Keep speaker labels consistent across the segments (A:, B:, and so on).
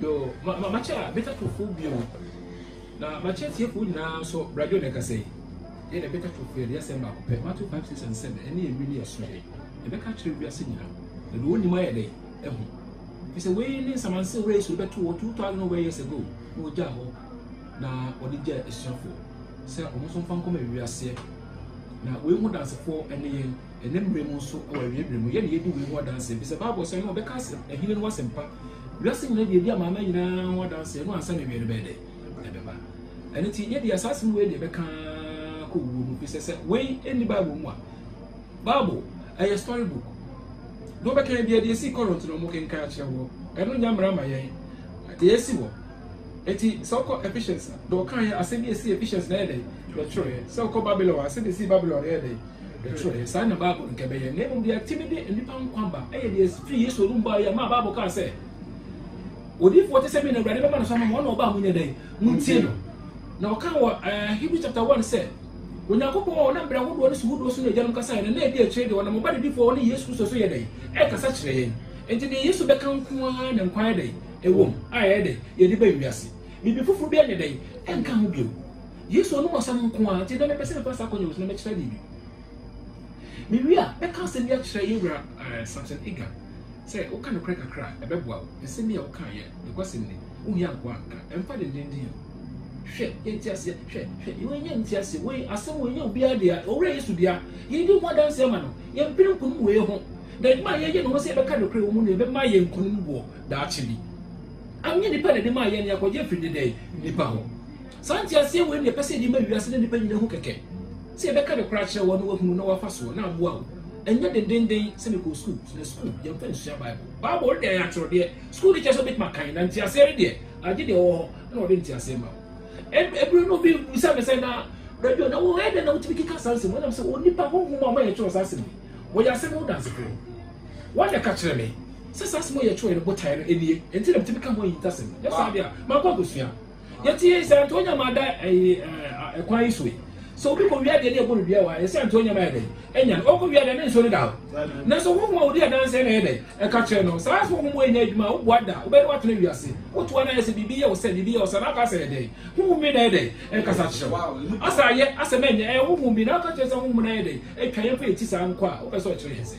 A: Yoo, ma, ma, makyɛ Beta Twofoɔ bio, na makyɛ atiefoɔ nyinaa nso, Bra Joe na ɛkasa yi. Yɛn deɛ Beta Twofoɔ, yɛde yɛ asɛm baako pɛ, Matthew 5, 6 and 7, ɛne ɛwi ne ɛso yɛn. Yɛbɛka akyerɛ wiase nyinaa, na deɛ ɔnnim ayɛ dɛn? Ahu. Ɛfiri sɛ wei ne nsamansew wɔ Yesu de bɛto hɔ 2,000 over years ago, na ɔgyaa hɔ, na ɔde gyaa asuafoɔ sɛ wɔn nso mfa nkɔma wiaseɛ. Na wei ho dansefoɔ ne yɛn. Nnɛ mmere mu nso, wɔ Awiaberɛ mu, yɛn na yɛdi wei ho adanseɛ, efisɛ Bible sɛ, Ɛno ɔbɛka asɛm, Ahene no asɛm pa, wiase nyinaa deɛ edi amanaman nyinaa ho adanseɛ, ɛno ansa na awiɛ no bɛyɛ dɛ? ɛbɛba. Ɛno nti, yɛ deɛ saa asɛm wei deɛ ɛbɛka ara kɔ owuo mu, efisɛ sɛ wei nni Bible mu a, Bible ɛyɛ story book. Deɛ ɔbɛka yɛ deɛ deɛ esii Corinth no wɔkenkan akyerɛ woɔ, ɛno nyɛ mmara ma yɛn, deɛ esi wɔ. Enti sɛ wokɔ Ephesians a, deɛ ɔkaeɛ, asɛm bi a ɛsii Ephesians na ɛyɛ dɛn? Yɛtwerɛeɛ. Sɛ wokɔ Babylon a, asɛm a ɛsii Babylon no, ɛyɛ dɛn? Yɛtwerɛeɛ. Saa na Bible no nka ɛbɛyɛ. Na mmom deɛ atumi de nnipa nkwa ba yɛ deɛ ɛfiri Yesu anom baeɛ a, maa Bible kaa sɛ, Odiyifoɔ te sɛ me na Awurade bɛma no so ama mo, ɔno na ɔba a monyɛ dɛn? Montie no. Na ɔkaa wɔ eh, Hebrews chapter 1 sɛ, Onyankopɔn a ɔnam berɛ ahodoɔ ne suhudoɔ so ne agyanom kasaeɛ no, na ɛdi akyire deɛ ɔnam ɔba nadifoɔ ɔne Yesu Kristo so yɛ dɛn? Ɛkasa kyerɛ yɛn. Enti deɛ Yesu bɛka nko ara na nkwa yɛ dɛn? Ɛwom, a ɛyɛ dɛ, yɛde bɛn wiase. Biribi foforo biara nyɛ dɛn, ɛnka ho bio. Yesu anom asɛm nko ara nti, ɛnnɛ mepɛ sɛ mefa saa akwannya wei so na mɛkyerɛ biribi. Mewie a, mɛka asɛm bi akyerɛ yɛn wura eh, Samson Iga sɛ woka nokorɛ kakra a, ɛbɛboa wo. Nsɛm yi a woka yɛ nokwasɛm ni. Wohia nkoa nka. Ɛmfa dendenden o. Hwɛ, yɛn nteaseɛ, hwɛ, hwɛ, wei nyɛ nteaseɛ, wei asɛm wei nyɛ obiara dea, Owura Yesu dea. Yɛdi ho adanse ama no. Yɛmpere nkonim wei ho. Na adwuma a yɛyɛ no ho sɛ yɛbɛka nokorɛ wɔ mu no, ɛbɛma yɛn nkonim boɔ. daakye bi. Anyɛ nnipa na ɛde maa yɛn, nea kɔgye firi nnɛdɛɛ nnipa hɔ. Saa nteaseɛ wei na yɛpɛ sɛ yɛde ma wiase ne nnipa nyina hu kɛkɛ. Sɛ yɛbɛka ne korɛ akyerɛ wɔn na wɔahunu na wɔafa soɔ na aboa wo. Ɛnyɛ dendenden sɛ mekɔɔ sukuu, so na sukuu yɛmfa nsua Bible? Bible no deɛ ɛyɛ atwerɛdeɛ. Sukuu no kyerɛ sɛ wobɛtumi akan, na nteaseɛ no deɛ agye deɛ ɔwɔ hɔ na ɔde nteaseɛ ma wo. Ɛberɛ no obi bisa me sɛ na radio na wɔn ɛdɛ na wotumi keka saa nsɛm wɔnam sɛ onipa honhom a wɔyɛ twerɛ saa asɛm yi wɔyɛ asɛm ho dansefoɔ wɔn na ɛka kyerɛ me. sɛ saa asɛm a ɔyɛ kyerɛw yɛ ne botae no nie, enti na metumi ka ho ahintasɛm. Anyɛ saa deɛ a, mankɔ akɔsua. Yɛte sɛ Antonia ma ada ɛyi kwan yi so yi. Sɛ obi kɔ wia deɛ ne ɛbɔ no dua wɔ ha, yɛsɛ Antonia ma yɛ dɛn? Ɛnya no. Ɔkɔ wia deɛ ne nso no da hɔ. Nanso honhom a ɔdi adanseɛ na ɛyɛ dɛn? Ɛka kyerɛ no. Saa nso honhom a ɛnya adwuma a woboa da, wobɛne watena wiase. Wotoa no ayɛ sɛ biribi yɛ wo sɛ, biribi yɛ wo sɛ, na aka sɛ ɛyɛ dɛn? Honhom bi na ɛyɛ dɛn? Ɛkasa kyerɛ wo. Asa ayɛ asɛm ɛnyɛ, ɛyɛ honhom bi na aka kyerɛ sɛ honhom no ayɛ dɛn? Ɛtwa yɛn pɛ yɛti saa nkɔ a, wopɛ sɛ ɔkyerɛ yɛn sɛ.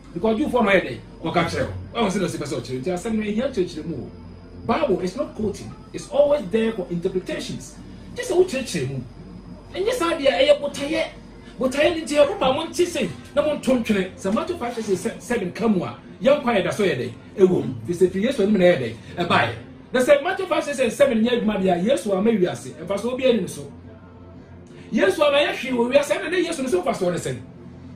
A: Nkɔɔdwufoɔ no ayɛ dɛn? Wɔka kyerɛ wo. Wahu sɛdeɛ ɔse pɛ sɛ ɔkyerɛ nti asɛm no ɛhia kyerɛkyerɛmu o. Bible is not quoting, it's always there for interpretations. Gye sɛ wo kyerɛkyerɛ mu. Ɛnyɛ saa deɛ ɛyɛ botaeɛ. Botaeɛ no nti ɛho ma monte sei na monto ntwene. Sɛ Matthew five verse seven ka mu a, yɛn nkwa yɛ da so yɛ dɛn? Ɛwɔ mu. Firi sɛ firi Yesu anim na ɛyɛ dɛn? Ɛbaeɛ. Na sɛ Matthew five verse seven nyɛ adwuma deɛ a, Yesu amma wiase mfasoɔ biara nni ne so. yesu ama yɛ hwee wɔ wiase ɛna ne yesu no so nfa so ne sɛn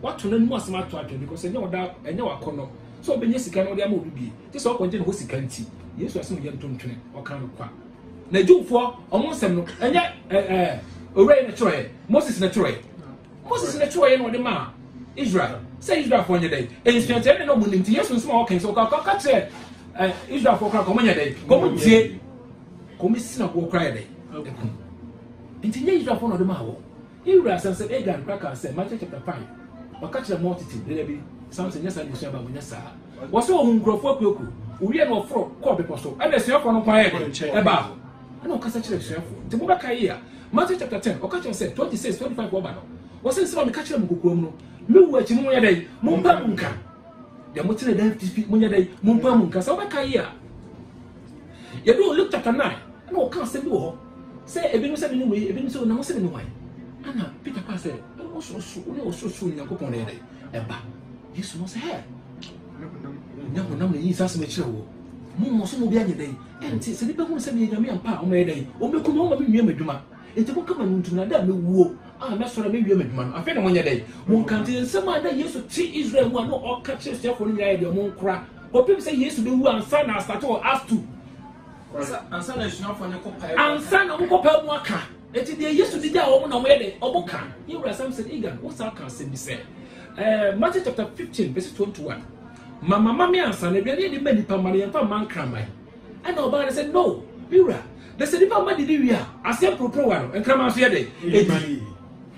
A: wato n'anim asɛm ato adwene because ɛnyɛ ɔda ɛnyɛ wakɔnɔ sɛ ɔbɛnya sika na ɔde ama obi bie te sɛ ɔkɔngye ne ho sika nti yesu asɛm yɛ ntontwene ɔka no kwa na jewfoɔ ɔmo nsɛm no ɛnyɛ ɛɛ owurɛ yɛ ne twerɛɛ moses ne twerɛɛ moses ne twerɛɛ na ɔde maa israel sɛ israelfoɔ nyɛ dɛ nsuakyerɛ ne na ɔmo nim ti yesu nsɛm a ɔka nso ɔka ɔka kyerɛ ɛɛ israelfoɔ kora kɔmo nyɛ dɛ kɔmo tie Kome si na woɔ koraa yɛ dɛn? Ɛku. Enti nyɛ Israelfoɔ na ɔde maa wɔn. Ne wura san sɛ Agag koraa kaa sɛ, Micah chapter five, ɔka kyerɛ mɔ tete dada bi, Samson nyɛ saa n'abusua ba, wɔnyɛ saa. Wɔ sɛ wɔn nkurɔfoɔ akuaku, wɔwie na wɔforo kɔɔ bepɔ so, ɛna asuafoɔ no nko ayɛ dɛn? Ɛbaa hɔ. Ɛna ɔkasa kyerɛ asuafoɔ. Nti mobɛka yie a, Matthew chapter ten, ɔka kyerɛ sɛ, twenty six, twenty five wɔba no, wɔ sɛ nsɛm a meka kyerɛ mo kokoam no, me wu akyi mo monyɛ dɛn? Mompae mu nka. Deɛ motene dɛn fi fi monyɛ dɛn? Mompae mu nka. Sɛ wobɛka yie a, Yɛduu Luke chapter nine, ɛna wɔka asɛm bi wɔ hɔ sɛ ebinom sɛ mene wei, ebinom sɛ na wɔn sɛ mene wɔn. Ɛna Peter kaa sɛ, ɔsorosoro, wo ne ɔsorosoro Nyankopɔn na yɛ dɛ ɛba. Yesu no sɛ, hɛ, nyɛ honam na ɛyi saa asɛm akyerɛ wɔ. Mo mmɔ so mo bi anyɛ dɛn? Ɛnti sɛ nipa hunu sɛ meyɛ Nyame ampa a, wɔn yɛ dɛn? Wɔn bɛku me, wɔn ma me nwie m'adwuma. Enti monka ma no ntum na da a mewuo a mɛsɔre a mɛwie m'adwuma no, afei na monyɛ dɛn? Monka nti. Nsɛm a na Yesu te Israel mu a na ɔka kyerɛ asuafoɔ no nyinaa yɛ deɛ wɔn nkora. Kɔpem sɛ Yesu bɛwu ansa na astate wɔ Acts 2. Ansa na asuafoɔ no kɔ pae Ansa na wɔkɔ pae mu aka. Ɛti deɛ Yesu de gyaa wɔn na wɔyɛ dɛ, wɔn ka. Yɛ wura sam sɛ, Igan, wo saa ka asɛm bi sɛ, ɛɛ Matthew chapter 15 verse 21. Mama ma me ansa na aduane yɛ de ma nipa ma no yɛn fa ma nkraman. Ɛnna ɔbaa no sɛ, No, me wura, na sɛ nnipa mma didi wie a, aseɛ mporoporowa no, nkraman nso yɛ dɛn? Ɛdi.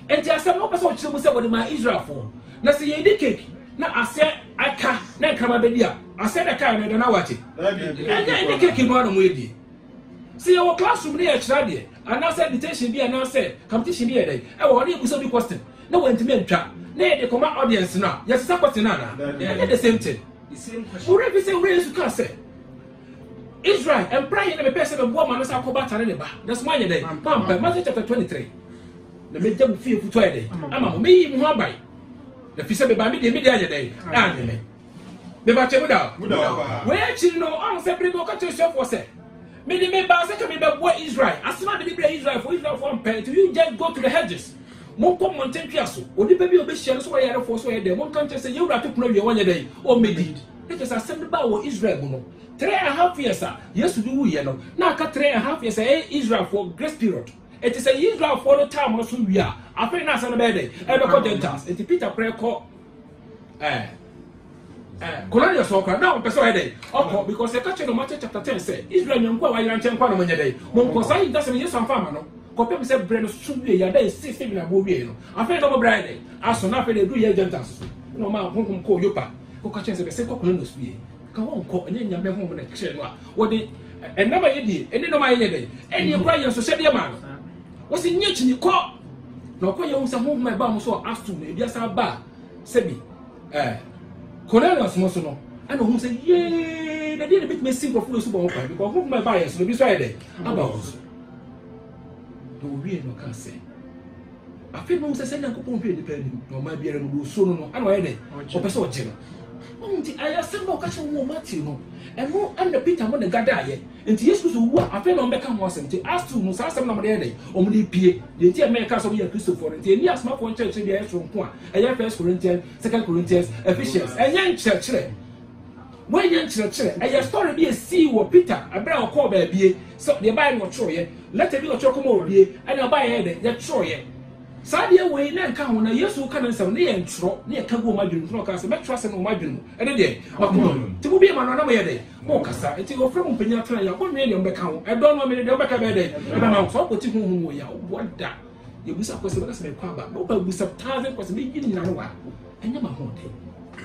A: Enti asɛm no wopɛ sɛ ɔkyerɛ mu sɛ wɔde maa Israelfoɔ, na sɛ yɛredi kek na aseɛ aka na nkraman bɛdi a, aseɛ na ɛkaeɛ no ɛda no awakye? Ɛnyɛ ɛne kek no ara na wɔredi. Sɛ yɛwɔ classroom na yɛkyerɛ adeɛ anaasɛ dictation bi anaasɛ competition bi yɛ dɛn ɛwɔ hɔ na yɛbusa bi question na wɔantumi antwa na yɛde kɔma audience no a, yɛsesa question no anaa? Ɛnyɛ the same thing. Ɔwerɛ fi sɛ Wura Yesu kaa sɛ, Israel, ɛmpra he na mepɛɛ sɛ meboa maame sɛ akɔba atare ne ba, nanso moanyɛ dɛn? Moampɛ. Matthew chapter 23 Na mɛgya mo fie kutu ayɛ dɛn? Ama mo. Mɛyi mo ho aban. Na fi sɛ mebaa me deɛ, me deɛ anyɛ dɛn? Anyɛ me. Mebakyɛ mu da hɔ. Wei akyiri no, ɔho sɛ bere bi ɔka kyerɛ asuafoɔ sɛ, mede mebaa sɛ ka mebɛboa Israel. Asɛm a mede brɛ Israelfoɔ, Israelfoɔ ampɛ. Nti you just go to the hedges. Monkɔ mmɔnten ntwea so. Onipa bi a obehyia no sɛ ɔyɛ yarefoɔ sɛ ɔyɛ dɛn, monka nkyerɛ sɛ, 'Yɛn wura to pono awie a, ɔnyɛ dɛn? Ɔmmedi. Na kyerɛ sɛ asɛm no baa wɔ Israel mu no, three and half years a Yesu de wuiɛ no, na aka three and half years a ɛyɛ Israelfoɔ grace period. Enti sɛ Israelfoɔ no time no so wie a, afei na asɛm no bɛyɛ dɛn? Ɛrebɛkɔ Gentiles. Enti Peter koraa kɔ. Eh. Eh, Cornelius ɔkora na ɔmpɛ sɛ ɔyɛ dɛ ɔkɔ because ɛka kyerɛ no Matthew chapter ten sɛ Israel nyanko a wayera nkyɛn nkwa no monyɛ dɛ monkɔ saa yi dasɛm Yesu amfa ama no kɔpem sɛ berɛ no so wie yɛ ada ɛsi sɛ dwena aboɔ wie no afei na ɔmɔbrɛ ayɛ dɛ aso na afei na ɛduru yɛ Gentiles so na ɔma honhom kɔɔ Yopa kɔka kyerɛ sɛ bɛsɛ kɔ Cornelius fie ka wɔnkɔ ɛnyɛ nyame honhom na kyerɛ no a wɔde ɛnam a yɛdie ɛne nɔma yɛyɛ dɛ ɛne ɛkora yɛ nso hyɛdeɛ maa no Wɔsi nyɛ kyini kɔ. Na ɔkɔ yɛ hu sɛ honhom a ɛbaa mo so wɔ Acts 2 no, ebi asan baa sɛbi ɛɛ Cornelius no so no, ɛna ohun sɛ yee, na deɛ na ebetumi esi nkurɔfo wɔ subɔ ho kwan, because honhom a ɛbaa yɛn so no, ebi nso ayɛ dɛ, aba wɔn so. Na owie na ɔka sɛ, afei na ohun sɛ sɛ Nyankopɔn hwɛ nipa anim, na ɔmaa biara no deɛ osuo no no, ɛna ɔyɛ dɛ, ɔpɛ sɛ ɔgye no. Ɔno nti, ɛyɛ asɛm a ɔka kyerɛ wɔn wɔ Matthew no, ɛno ɛna Peter mo na ɛgadaeɛ. Enti Yesu Kristo wu a, afei na wɔbɛka ho asɛm. Enti Acts two no, saa asɛm no na wɔde ayɛ dɛn? Wɔde repue. Deɛ enti a ɛma yɛka sɛ wɔyɛ Akristofoɔ no, enti ɛnni asomafoɔ nkyerɛkyerɛ bi a ɛyɛ soronko a ɛyɛ First Corinthians, Second Corinthians, Ephesians. Ɛnyɛ nkyerɛkyerɛ. Wei nyɛ nkyerɛkyerɛ. Ɛyɛ story bi a ɛsii wɔ Peter ɛberɛ a ɔkɔɔ baabie. So deɛ ɛbaeɛ no wɔtwerɛeɛ. Lɛtɛ bi na ɔtwerɛ kɔma obie, ɛna ɛbaeɛ yɛ dɛn? Yɛtwerɛeɛ. Saa deɛ wei na ɛnka ho na Yesu reka ne nsɛm no, na yɛntwerɛ, na yɛka gu wɔn adwene mu. Nti na ɔkaa sɛ, mɛtwerɛ asɛm no wɔ mo adwene mu. Ɛne deɛ, m'akoma mu. Nti mobue mo ano na moyɛ dɛn? Morekasa. Nti wɔfrɛ mo mpanyin atena yaw. Monwene deɛ mobɛka ho. Ɛdɔ no amene deɛ mobɛka bɛyɛ dɛn? Ɛbɛma wo. Sɛ wokwati honhom wɔ yaw, boa da. Yɛbusa question, mɛka sɛ mekɔ aba. Mɛwɔ pɛ busa thousand question, mɛyi ne nyinaa wa. Ɛnyɛ m'ahoɔden.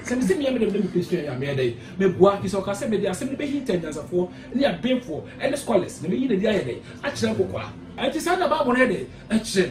A: Sɛ mese meyɛ me dɛm dɛ mepɛ sua yɛ a, meyɛ dɛn? Mɛboa. Firi sɛ ɔka sɛ mede asɛm no bɛhinta anyansafoɔ ne abenfoɔ ne scholars, na mɛyi no adi ayɛ dɛn? Akyerɛ nkokoaa. Ɛnti saa na Bible no yɛ dɛn? Ɛkyerɛ.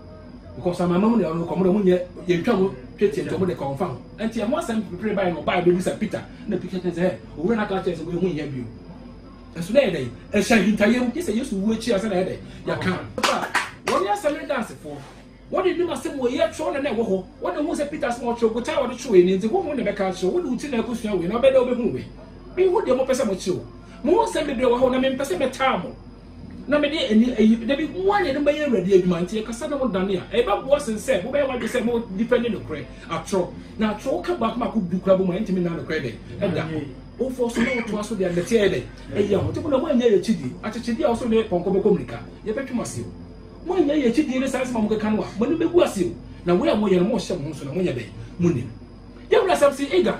A: because amama mu na ɔno kɔ mo dɛ mo nyɛ yɛntwa mo twetie nti ɔmo de kɔn fa ho nti ɛho asɛm pere bae no ɔbae bɛbisa peter na peter kyerɛ sɛ owura no aka kyerɛ sɛ wɔyɛ ho nyɛ bio ɛso dɛ dɛ ɛhyɛ ahintayɛ mu gye sɛ yesu wu akyi a sɛ na ɛdɛ yɛka wɔne asɛm ne dansefoɔ wɔde nim asɛm wɔ yɛ twerɛ no na ɛwɔ hɔ wɔde hu sɛ peter sɛ ɔtwerɛ botae wɔde twerɛ ne nti honhom na ɛbɛka akyerɛ wode wo ti na akɔsua wei na ɔbɛdɛ wobɛhu wei mehu deɛ mopɛ sɛ mokyerɛ o mo ho nsɛm bebree wɔ hɔ na mempɛ sɛ mɛtaa mo na mede ani ayi me. Dabi, mo ara na yɛde mo bɛyɛ Awurade adwuma, nti ɛkasa na mo dane a, ɛbɛboa sen sɛ mobɛyɛ mo adwene sɛ mo difɛnde nokorɛ, atorɔ, na atorɔ wo ka baako baako du koraa bɔ mu a, ɛntumi nna nokorɛ dɛn? Ɛda hɔ. Wofɔ so na wotoa so de a, dɛteɛ yɛ dɛn? Ɛyi ahotefo na moannya yɛ akyidie, akyekyedeɛ a ɔsoro ne pɔnkɔ bɛkɔ mirika, yɛbɛtwe mo ase o. Moannya yɛ akyidie ne saa nsɛm a mokeka no a, moanim bɛgu ase o, na wei a moyɛ no, morehyɛ mo ho nso na monyɛ dɛn? Monim. Yɛn wura asɛm se, Aguard.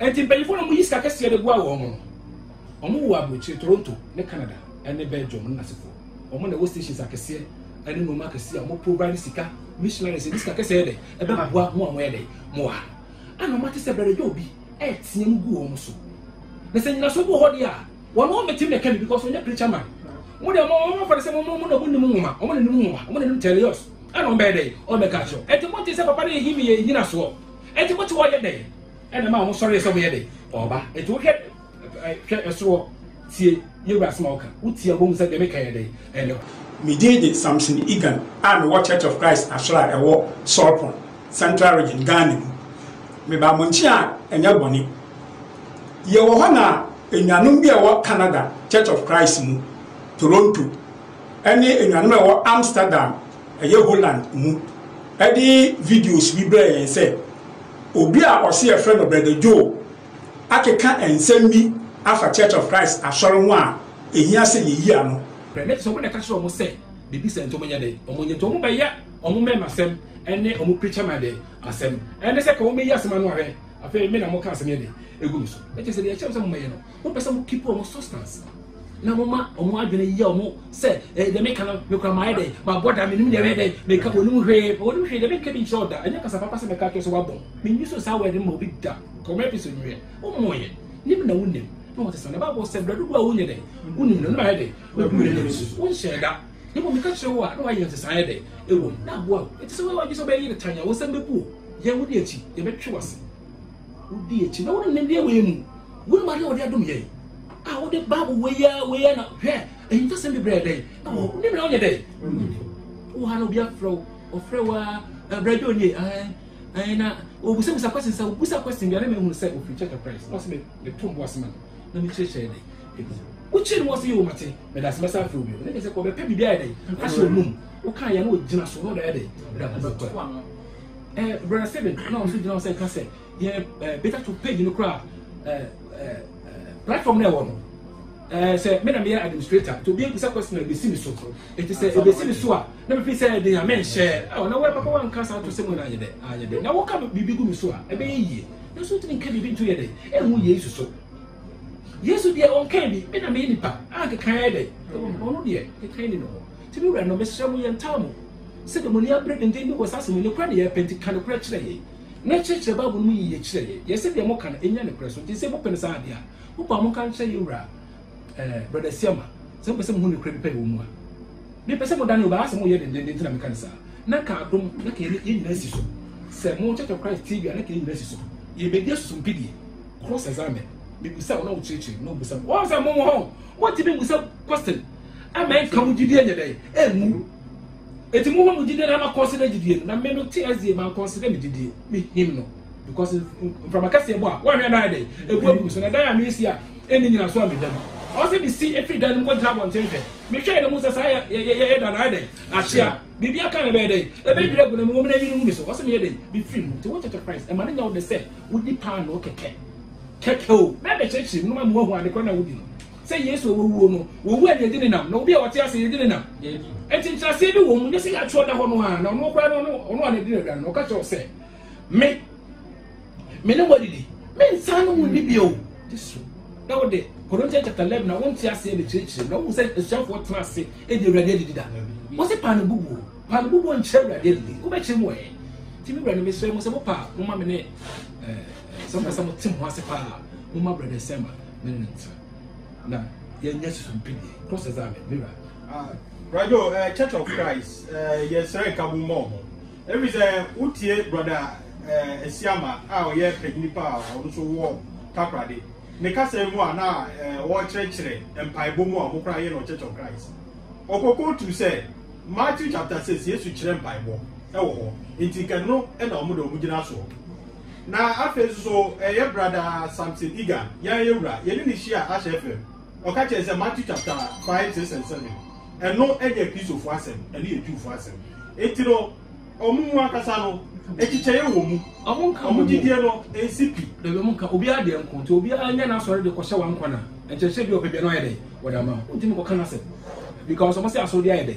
A: Enti mpanyinfoɔ na wɔyi sika kɛseɛ de boa wɔn no, wɔn wɔ aburokyire, Toronto ne Canada ne Belgium ne n'asefoɔ. Wɔn na ɛwɔ stations akɛseɛ ɛne nnoɔma akɛseɛ a wɔn provide sika, missionaries ɛde sika kɛseɛ ɛdɛ ɛbɛ boa mo a wɔn ɛdɛ mo wɔ ha. Ana wɔn ate sɛ bɛrɛ yɛ obi ɛɛteɛ mu gu wɔn so. Na sɛ nyinaso bi wɔ hɔ deɛ a, wɔn wɔn bɛtim na ɛka bi because wɔn nyɛ preacher man. Wɔn deɛ wɔn wɔn fɛrɛ sɛ wɔn wɔn na wɔn nim nwoma, wɔn na nim nwoma, wɔn na nim tɛlios. Ana wɔn bɛyɛ dɛ, wɔn bɛka akyerɛ. Ɛti mo nte sɛ papa no yɛ himi yɛ nyinasoɔ. Enti mote hɔ yɛ dɛn? Ɛna ɛma wɔn sɔree sɛ wɔyɛ dɛn? Wɔreba. Enti wohwɛ ɛ, hwɛ ɛsoro hɔ, tie Yehowa asɛm a ɔka. Wotie a, wobɛhu sɛ deɛ meka yɛ dɛn? Ɛyɛ nokorɛ. Me din de
B: Samson Igan a mewɔ Church of Christ Asɔre a ɛwɔ Sorpon, Central Region, Ghana mu. Mebaa mo nkyen a ɛnyɛ bɔne. Yɛwɔ hɔ na anuanom bi a ɛwɔ Canada Church of Christ mu, Toronto. ne anuanom a ɛwɔ Amsterdam, ɛyɛ Holland mu de videos bi brɛɛ yɛn sɛ obi a ɔse yɛfrɛ no Brɛda Joe akeka nsɛm bi afa Church of Christ asɔre ho a ɛhia sɛ yɛyi ano. Brɛda te sɛ wɔn na ɛka kyerɛ
A: wɔn sɛ biribi sɛ nti wɔn nyɛ dɛn, wɔn nyɛ nti wɔn bɛyɛ wɔn mmɛɛma asɛm ne wɔn preacher man dɛn asɛm, ɛne sɛ ka wɔn bɛyi asɛm ano ahwɛ, afei me na mo ka asɛm yɛ dɛn egu me so, ɛkyɛ sɛ deɛ ɛkyerɛ sɛ mo bɛyɛ no. Mo pɛ sɛ mo keep wɔn substance na mo ma wɔn adwene yɛ wɔn sɛ ɛɛ eh, deɛ meka no mekura maa yɛ dɛ ma bɔ da menim deɛ mɛyɛ dɛ meka wɔn mu hwee wɔn mu hwee deɛ meka bi nkyerɛw da ɛnyɛ kasa papa sɛ meka kyerɛ sɛ wabɔ menyi so saa wɛde ma obi da kɔmɛ episode nwɛ wɔn mu yɛ nim na wonim na wɔte sɛ na baabɔ sɛ brɛ dodo a wonyɛ dɛ wonim na noma yɛ dɛ wɔbu yɛ dɛ nso wonhyɛ da ne mu meka kyerɛ wo a na wayɛ nsesan yɛ dɛ ɛwɔ mu na aboa ɛte sɛ wɔyɛ wɔn agye sɛ wɔbɛyɛ yɛ tan a wɔsɛm bɛbu o yɛn ho de akyi yɛbɛtwe wɔ ase Wodi akyi na wonim nimdeɛ wei mu. Wonim adeɛ a wɔde adom yɛn a wode Bible wei a wei a na hwɛ ahintasɛm bebree dɛn na wɔ wonim na wonyɛ dɛn wɔ ha na obi afrɛ wo ɔfrɛ wo a ɛbrɛ bi onie ɛn na obusabusa question sɛ obusa question bi a na mehunu sɛ ofiri church of Christ na ɔsɛ me meto bo asɛm no na mekyerɛkyerɛ dɛn wokyerɛ no wɔ sɛ yɛ wɔmate meda sɛ mɛsa afrɛ obi ne kɛ sɛ kɔbɛpɛ biribi ayɛ dɛn ahyɛ ɔnum wokaa yɛ na ɔgyina so na ɔda yɛ dɛn da kɔbɛkɔ Eh, Brother Steven, na ɔno nso gyina hɔ sɛ ɛka sɛ yɛ eh, beta to page no koraa eh, eh, eh, platform na ɛwɔ no Eh, sɛ me na meyɛ administrator nti obi bisa question ɛbɛsi me so ɛti sɛ ɛbɛsi me so a na mefi sɛ ɛde nyame nhyɛ ɛwɔ na wɔɛpapa wanka saa to sɛ mu no anyɛ dɛ anyɛ dɛ na woka biribi gu me so a ɛbɛyɛ yie na so wotumi nka biribi nto yɛ dɛ ɛho yesu so yesu deɛ ɔnka bi me na meyɛ nipa a kekaeɛ dɛ ɔno deɛ kekae ni no hɔ nti me wura no mesrɛ mo yɛntaa mo Sɛ demoniaa bere denden bi wɔ saa asɛm yi, nokorɛ na yɛpɛ, nti ka nokorɛ kyerɛ yɛn, na kyerɛkyerɛ Bible no mu yiye kyerɛ yɛn. Yɛsɛ deɛ moka no nnya nokorɛ so, nti sɛ mopɛ no saa adeɛ a, mopɛ a monka nkyerɛ yɛn Wura, eh, Brɔda Asiamah, sɛ mopɛ sɛ mohu nokorɛ bi pɛyɛ wɔ mu a. Mepɛ sɛ modane o, but asɛm no yɛ dendenden nti na meka no saa. Na ka adom, na ka yɛn nyinaa asi so. Sɛ mo Church of Christ tie bi a, na ka yɛn nyinaa asi so. Yɛbɛdi asusumpɛ die, cross examen. Mebisa wo na wokyerɛkyerɛ, na wobisa me. Wɔn sɛ mo wɔ hɔ, wɔntumi mmusa question ama ɛnka mo gyidie nyɛ dɛn? Ɛnwu. Enti mo hɔ mo gyidie na ma kɔnsida gyidie no na me no te asie ma nkɔnsida me gyidie me him no because mframa kɛseɛ bɔ a wɔahwɛ no ayɛ dɛ ɛbu agu so na dan a mesi a ɛnni nyina so a meda mu ɔwɔ sɛ mesi ɛfiri dan no mu kɔgyina abɔnten hwɛ mehwɛ no mu sɛ saa yɛyɛ da no ayɛ dɛ ahyea biribi aka no bɛyɛ dɛ ɛbɛdwiri agu no mu wɔmena yiri hu me so ɔwɔ sɛ meyɛ dɛ mefiri mu nti wokyɛkyɛ Christ ɛma no nya wo dɛ sɛ wodi paanoo kɛkɛ kɛkɛ o na ɛbɛkyerɛkyerɛ mu no ma moahu adekorɔ na wodi no Sɛ Yesu a ɔwɔ wuo no, ɔwuo a yɛgye no nam, na obi a ɔte ase a yɛgye no nam. Enti nkyerɛaseɛ bi wɔ mu, nyɛ sɛ yɛatwerɛ da hɔ no ara, na ɔno koraa no, ɔno a na ɛdi no aduane no, ɔka kyerɛ wo sɛ, Me, me ne mo adidi, mensan ne mo nni bio. Yesu, na wo de, Corinthians chapter 11 na wonte aseɛ na kyerɛkyerɛ, na wohu sɛ asuafoɔ tena ase di awurade adidi da. Wɔ se paa no bubuo, paa no bubuo nkyerɛ awurade adidi, wobɛkyerɛ mu ɛ. Nti me wura no mesrɛ mo sɛ mo paa, mo ma me ne, eh, sɛ mo pɛ sɛ mo te mo ase paa, mo ma brɛdɛ sɛma. ne ne nsa na yɛnyɛ susumpini cross examine ne wura. Ah, radio uh,
C: eh, church of christ uh, eh, yɛsrɛ nkabo mmɔ ho ɛfiri sɛ wotie brɔda uh, asiama a ɔyɛ panyini pa a ɔno nso wɔ takorade ne kasa mu a na uh, wɔkyerɛkyerɛ mpaebɔ mu a wɔkora yɛ no church of christ ɔkɔkɔ tu sɛ matthew chapter six yesu kyerɛ mpaebɔ ɛwɔ hɔ nti kɛno ɛna wɔn de wɔn gyina soɔ. Na afei nso so ɛyɛ Brada Samson Egan, yɛn ayɛwura, yɛne no hyiaa Ahyɛ FM. Ɔka kyerɛɛ sɛ Matthew chapter five six and seven, ɛno ɛnyɛ Kristofo asɛm, ɛno yɛ Jewfo asɛm. Enti no, wɔn mu ankasa no, ɛkyekyɛeɛ wɔ mu. Wɔn nka wɔn gyidie no nsi pi. Dabi wɔn nka obiara
A: deɛ nko, nti obiara nyɛ n'asɔre de kɔhyɛ wɔn nkwa na nkyerɛkyerɛ bi a ɔpɛ bia no ayɛ dɛ wɔde ama. Wontumi kɔka n'asɛm because wɔn sɛ asɔre bi ayɛ dɛ.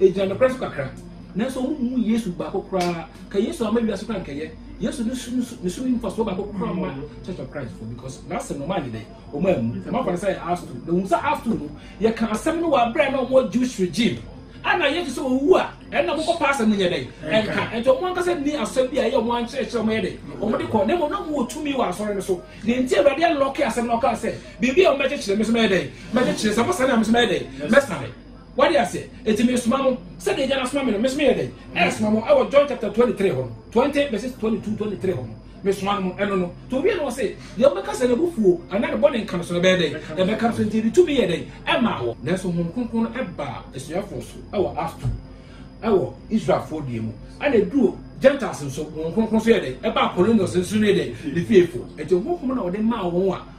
A: Egyina nokorɛ so kakra. Nanso wɔn mmu Yesu baako koraa. Ka Yesu ama wiase koraa nkɛyɛ. Yesu ne su ne su mfasoɔ baako koraa ma Church of Christ fo because n'asɛm no wɔn anyɛ dɛ wɔn amu wɔn afa no sɛ yɛ astu na wɔn sɛ astu no yɛ ka asɛm no wɔ abira na wɔn Jewish regime a na yɛ te sɛ wɔn wu a ɛna wɔn kɔ pa asɛm no nyɛ dɛ ɛnka ɛnti wɔn ankasa ni asɛm bi a ɛyɛ wɔn ankyerɛkyerɛ wɔn yɛ dɛ wɔn de kɔ na wɔn na wɔn wɔ tumi wɔ asɔre no so na nti awurade alɔke asɛm no ɔka sɛ biribi a wɔn bɛkyekyere mesoma yɛ dɛ mɛkyekyere sɛ mo sani a mesoma yɛ dɛ mɛsane Wode aseɛ? Enti mesoma mo, sɛdeɛ Agya no asoma me no, me nso meyɛ dɛn? Ɛresoma mo, ɛwɔ John chapter twenty three hɔ no, twenty verses twenty two twenty three hɔ no, mesoma no mo, ɛno no. To wie no ɔse, deɛ wobɛka sɛ n'abufuo anaa ne bɔne nka no so no ɛbɛyɛ dɛn? Ɛbɛka no so, enti ɛde tumi yɛ dɛn? Ɛmaa wɔ. Nanso Honhom Kronkron no ɛbaa asuafoɔ so ɛwɔ Acts two, ɛwɔ Israelfoɔ deɛ mu, ɛna ɛduru Gentiles nso, Honhom Kronkron nso yɛ dɛn? Ɛbaa Cornelius nso ne dɛn? Ne fiefoɔ. Enti Honhom na wɔde maa wɔn a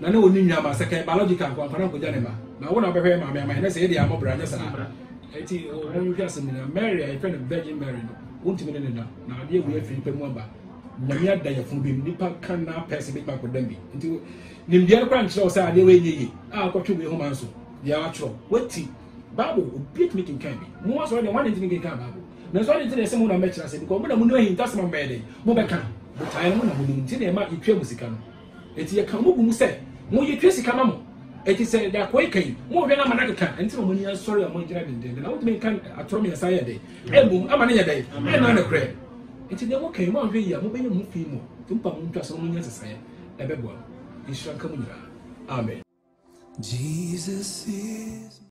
C: Na ne onni nuaba, sɛ kɛyɛ biological nko a anka na ankogya ne mma. Na wo na wobɛhwɛ yɛ maame ama yɛn, na sɛ yɛ deɛ ammɔ bra, nyɛ saa? Enti wonhwɛ asɛm no nyinaa. Mary a yɛfrɛ no Virgin Mary no, wontumi ne no nna, na adeɛ wei afiri ne pɛ mu aba. Nyame ada yafunu bi mu, nipa ka na pɛse betumi akɔdam bi. Nti nimdeɛ no koraa nkyerɛ wo sɛ adeɛ wei nyɛ yie. A wokɔtwe wei homa nso, deɛ wɔatwerɛ, woati. Bible, obi atumi kenkan bi. Mo asɔre deɛ, wɔn ade ntumi nkenkan Bible. Nanso ade nti na yɛse mo na mobɛkyerɛ ase, because mo na monim ahintasɛm a mobɛyɛ dɛn? Mobɛka. Botaeɛ no, mo na monim. Nti na yɛma yɛtua mo sika no. Enti yɛka mo gu mu sɛ moyɛtwa sika ma mo. Enti sɛ de akoe ka yi, monhwɛ na ama no akeka. Ɛno nti na mo ani asɔre a moagyina dendenden. Na wotumi nka atorɔ mmiɛnsa yɛ dɛn? Mmom, ama no nyɛ dɛn? Ɛnna ne korɛ. Enti deɛ moka yi, moanhwɛ yie a, mobɛyɛ mo ho fi mmɔ. Enti mopa mo ntwa sɛ mo nyɛ nsesaeɛ, ɛbɛboa mo. Nhyira nka mo nyinaa. Amen. Jesus is.